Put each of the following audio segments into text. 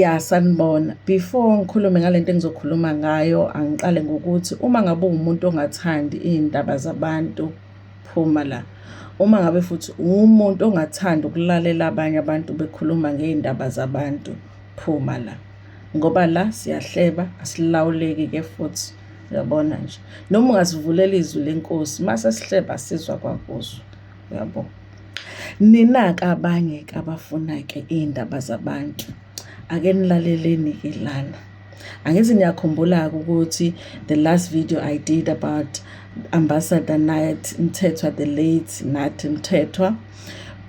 Ya sanibona, before ngikhulume ngale nto engizokhuluma ngayo angiqale ngokuthi uma ngabe uwumuntu ongathandi iy'ndaba zabantu phuma la. Uma ngabe futhi uwumuntu ongathandi ukulalela abanye abantu bekhuluma ngey'ndaba zabantu phuma la. Ngoba la siyahleba asilawuleki-ke futhi uyabona nje. Noma ungasivulela izwi lenkosi uma sesihleba sizwa kwakuzwa. yabo ninake abanye ke abafuna ke iy'ndaba zabantu ake nilaleleni ke lana angithi niyakhumbula-ke ukuthi the last video i did about ambassador night mthethwa the late nathi mthethwa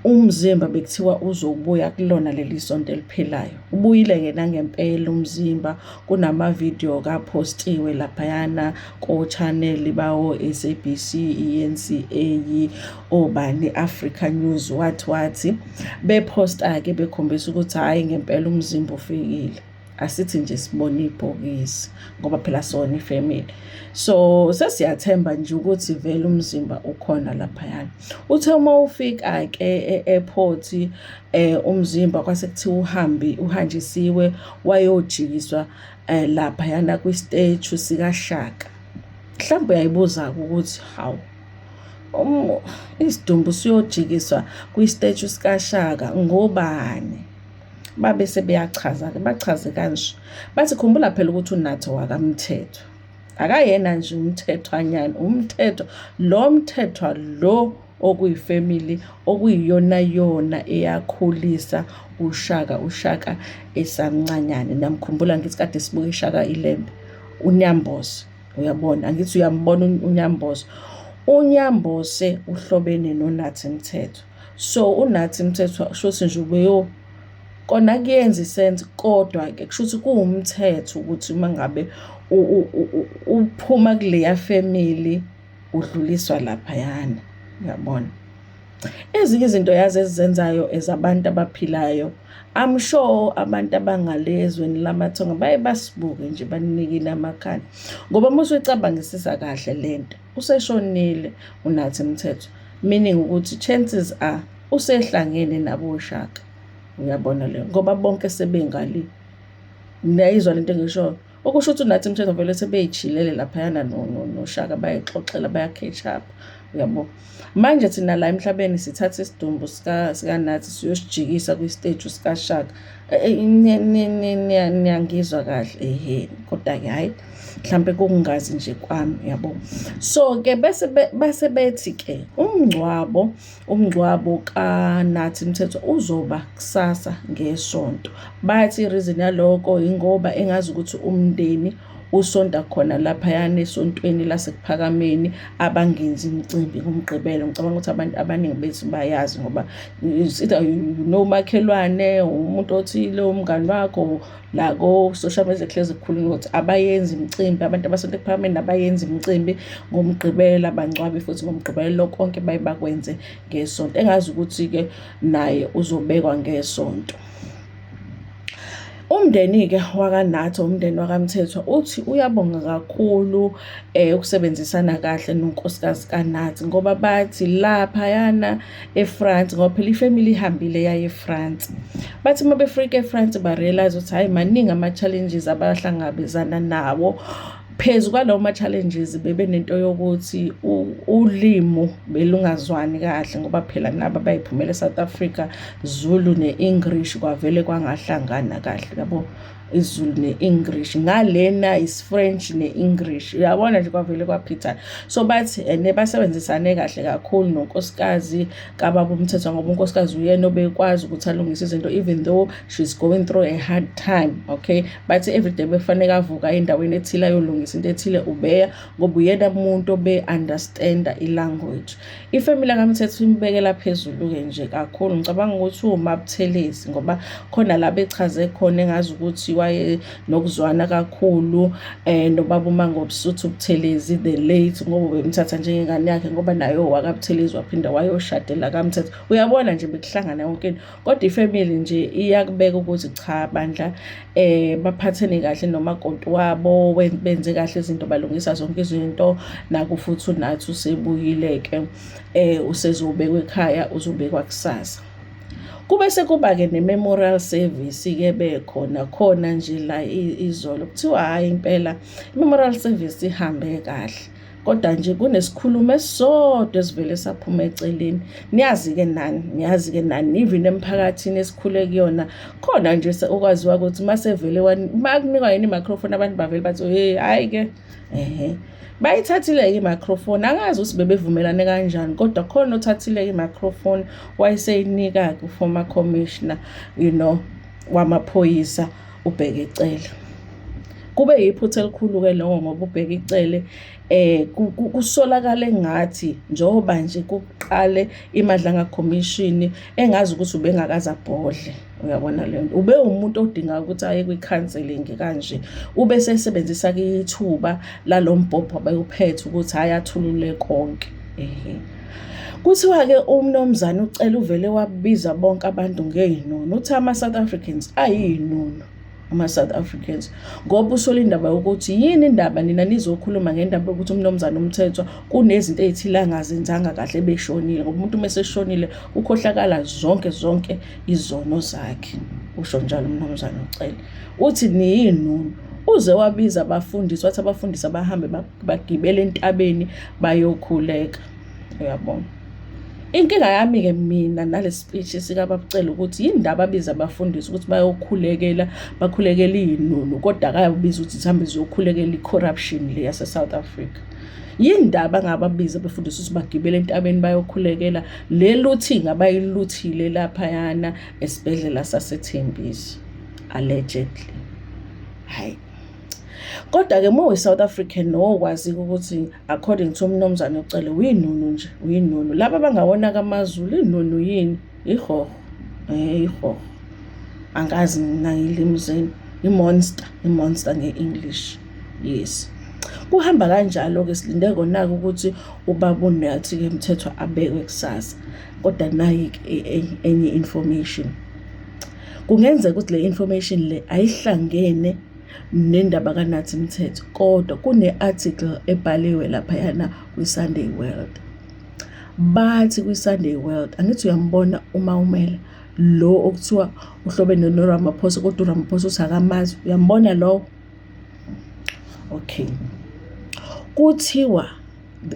umzimba bekuthiwa uzobuya kulona leli sonto eliphilayo ubuyile-ke nangempela umzimba kunama-video kaphostiwe laphayana kochaneli bawo-sabc i-NCA obani Africa News wathi wathi bephosta-ke bekhombisa ukuthi hhayi ngempela umzimba ufikile asithi nje sibone ibhokisi ngoba phela sona ifamily so sesiyathemba nje ukuthi vele umzimba ukhona laphayana uthe uma ufika-ke e-airport um umzimba kwase kuthiwa uhambi uhanjisiwe wayojikiswa eh lapha yana kwi stage sika Shaka mhlawumbe uyayibuza ukuthi how um isidumbu siyojikiswa kwi stage sika Shaka ngobani babe sebeyachaza ke bachaze kanje bathi khumbula phela ukuthi unathi wakamthetho akayena nje umthethwanyana umthetho lo mthethwa lo okuyifamily okuyiyonayona eyakhulisa uShaka uShaka esamncanyane. Namkhumbula ngithi kade sibuka iShaka iLembe uNyambose, uyabona angithi uyambona uNyambose. UNyambose uhlobene noNathi Mthethwa, so uNathi Mthethwa shuthi nje ubeyo kona kuyenza isense kodwa-ke kushuthi kuwumthetho ukuthi uma ngabe uphuma kuleya family udluliswa laphayana uyabona ezinye izinto yazi ezizenzayo ezabantu abaphilayo I'm sure abantu abangalezweni lamathonga baye basibuke nje banikile amakhanda ngoba uma usuyicabangisisa kahle lento useshonile unathi mthetho meaning ukuthi chances are usehlangene nabo shaka uyabona leyo ngoba bonke sebengali niyayizwa lento engishoyo Okusho ukuthi uNathi Mthethwa vele sebeyijhilele laphayana noShaka bayixoxela bayakheshapha uyabo manje thina la emhlabeni sithatha isidumbu sikanathi siyosijikisa kwisteji sikashaka e, e, niyangizwa kahle ehe kodwa-ke hhayi mhlawumpe kokungazi nje kwami uyabo so-ke bese bethi-ke umngcwabo Umngcwabo kaNathi Mthethwa uzoba kusasa ngeSonto. Bathi irizini yaloko yingoba engazi ukuthi umndeni usonta khona laphayana esontweni lasekuphakameni abangenzi imicimbi ngomgqibelo ngicabanga ukuthi abantu abaningi bethu bayazi ngoba either nomakhelwane umuntu othile umngani wakho la ko-social media kuhlezi kukhulunywa ukuthi abayenzi imicimbi abantu abasonto ekuphakambeni abayenzi imicimbi ngomgqibelo abangcwabi futhi ngomgqibelo konke baye bakwenze ngesonto engazi ukuthi-ke naye uzobekwa ngesonto Umndeni-ke wakaNathi, umndeni wakaMthethwa, uthi uyabonga kakhulu um ukusebenzisana kahle nonkosikazi kaNathi ngoba bathi laphayana eFrance ngoba phela ifamily ihambile yaye eFrance bathi uma befika eFrance barealize ukuthi hhayi maningi ama-challenges abahlangabezana nawo phezu kwalawo ma-challenges bebe nento yokuthi ulimo belungazwani kahle ngoba phela nabo bayiphumela eSouth Africa Zulu ne-English kwavele kwangahlangana kahle yabo izulu ne-english ngalena isifrench ne-english uyabona nje kwavele kwaphithana so bathi ene eh, basebenzisane kahle kakhulu nonkosikazi kababa umthetho ngoba unkosikazi uyena obekwazi ukuthi alungise izinto even though she's going through a hard time okay bathi everyday bekufaneke avuka endaweni ethile ayolungisa into ethile ubeya ngoba uyena muntu obe-understanda ilanguage Ifemeli lakaMthetho imbekela phezulu-ke nje kakhulu. Ngicabanga ukuthi uwumabuthelezi ngoba khona la bechaze khona engazi ukuthi waye nokuzwana kakhulu um nobaba uMangobusuthu Buthelezi the late ngoba bemthatha njengengane yakhe ngoba naye owakabuthelezi waphinde wayoshadela kaMthetho. Uyabona nje bekuhlangana yonke into. kodwa ifamily nje iyakubeka ukuthi cha bandla eh baphathene kahle nomakoti wabo benze kahle izinto balungisa zonke izinto naku futhi unathi usebuyile ke eh usezobekwa ekhaya uzobekwa kusasa kube sekuba ke ne-memorial service ke bekhona khona nje la izolo kuthiwa hhayi impela i-memorial service ihambe kahle kodwa nje kunesikhulumo esisodwa esivele saphuma eceleni niyazi-ke nani niyazi-ke nani even emphakathini esikhule kuyona khona nje okwaziwa ukuthi uma sevele uma kunikwa yini i-microphone abantu bavele bathi hey hhayi-ke ehe bayithathile-ke i-microphone angazi ukuthi bebevumelane kanjani kodwa khona othathile-ke i-microphone wayeseyinika-ke uformer commissioner you know wamaphoyisa ubheke icele kube yiphutha elikhulu-ke loko ngoba ubheka icele eh kusolakala engathi njengoba nje kuqale imadlanga commission engazi ukuthi ubengakaza bhodle uyabona le nto ube umuntu odinga ukuthi aye kwi-counseling kanje ube sesebenzisa ke ithuba lalombhobho abeyuphethe ukuthi hhayi athulule konke Ehe. Kuthiwa-ke umnumzane uCele uvele wabiza bonke abantu ngey'nono. Uthi ama-South Africans ayiy'nono ama-South Africans ngoba usole indaba yokuthi yini indaba nina nizokhuluma ngendaba yokuthi umnumzane umthethwa kunezinto ey'thile angazenzanga kahle beshonile ngoba umuntu uma eseshonile ukhohlakala zonke zonke izono zakhe usho njalo umnumzane uCele uthi niyinunu Uze wabiza abafundisi wathi abafundisi abahambe bagibele entabeni bayokhuleka. Uyabona? Inkinga yami-ke mina nale speech sikababucela ukuthi yini ndaba abiza abafundisi ukuthi bayokhulekela bakhulekela iy'nunu kodwa akayobiza ukuthi zihambe ziyokhulekela i-corruption le yase-south africa yini ndaba ngababiza befundisa ukuthi bagibele entabeni bayokhulekela le looting abayiluthile laphayana esibhedlela sasethembisi allegedly hayi kodwa-ke uma uyi-south african nowokwazika ukuthi according to umnomzane ucele uyinunu nje uyinunu laba bangawona kamazulu inunu yini ihoho um eh, ihoho angazi mina ngilimi zenu i-monster i-monster nge-english yes kuhamba kanjalo-ke silinde kona-ke ukuthi ubaba unathi-ke mthethwa abekwe kusasa kodwa nayi-ke e-, e-, enye information Kungenzeka ukuthi le information le ayihlangene nendaba kaNathi Mthetho kodwa kune-article ebhaliwe laphayana kwi-Sunday World. Bathi kwi-Sunday World angithi uyambona uma umela lo okuthiwa uhlobene noRamaphosa kodwa uRamaphosa uthi akamazi uyambona lowo okay kuthiwa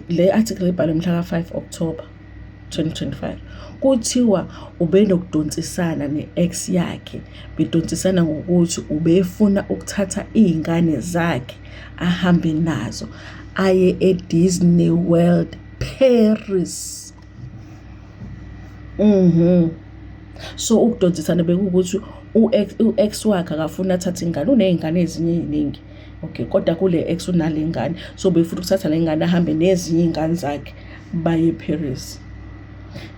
le article ibhalwe mhlaka 5 October 2025 kuthiwa ubenokudonsisana ne-ex yakhe bedonsisana ngokuthi ubefuna ukuthatha iy'ngane zakhe ahambe nazo aye e-Disney World Paris Mhm. So ukudonsisana bekuwukuthi u-ex u-ex wakhe akafuni athathe ingane, uney'ngane ezinye ey'ningi. Okay, kodwa kule ex unale ngane. So befuna ukuthatha le ngane ahambe nezinye iy'ngane zakhe baye eParis.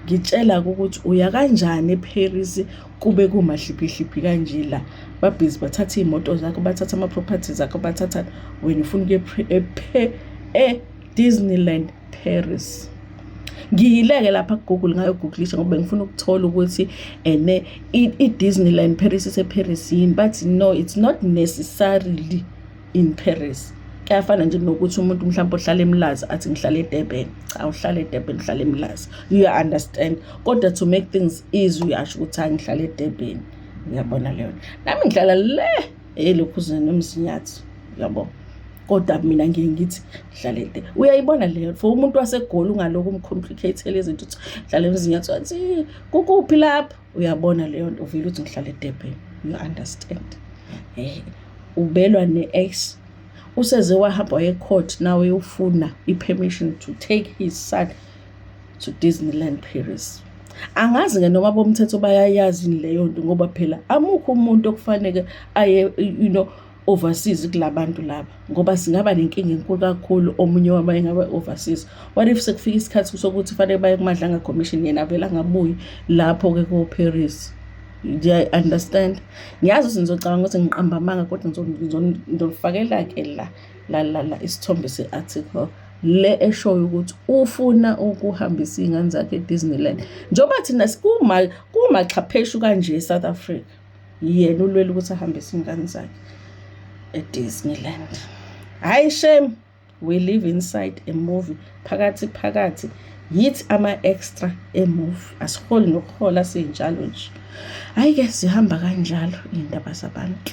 Ngitshela-ke ukuthi uya kanjani eParis kube kumahliphihliphi kanje la. Babhizi bathatha iy'moto zakho, bathatha ama-properties akho, bathathani, wena ufuna ukuya e-Disneyland. Paris ngiyileke lapha kugoogle ngayogooglisha ngoba ngifuna ukuthola ukuthi ene i-disneyland paris iseparis yini but no it's not necessarily in paris kuyafana nje nokuthi umuntu mhlawumbe ohlala emlazi athi ngihlala edurban cha uhlala edurban uhlala emlazi you understand kodwa to make things easy uyasho ukuthi angihlala edurban uyabona leyo nami ngihlala le elokhuzana nomzinyathi yabo kodwa mina ngiye ngithi dlale nte uyayibona leyo for umuntu wasegoli ungalokhu umcomplicatele izinto ukuthi dlale emzinyathi wathi kukuphi lapho uyabona leyo nto uvile ukuthi ngihlale edebheni you understand eh ubelwa ne-ex useze wahamba wayecourt nawe ufuna i-permission to take his son to Disneyland Paris angazi ke noma bomthetho bayayazi leyo nto ngoba phela amukho umuntu okufanele aye you know overseas kulabantu laba ngoba singaba nenkinga enkulu kakhulu omunye wabo engabe overseas what if sekufika isikhathi sokuthi fanele baye kumadlanga commission yena vela ngabuyi lapho ke ko Paris do you understand ngiyazi ukuthi ngizocabanga ukuthi ngiqamba amanga kodwa ngizonifakela ke la la la isithombe se article le eshoyo ukuthi ufuna ukuhambisa iy'ngane zakhe e-disneyland njengoba thina kumaxhapheshu kanje e-south africa yena ulwela ukuthi ahambise iy'ngane zakhe e-disneyland hhayi shame we live inside a movie phakathi phakathi yithi ama-extra emuvi asiholi nokuhola siyinjalo nje hhayi-ke zihamba kanjalo iy'ndaba zabantu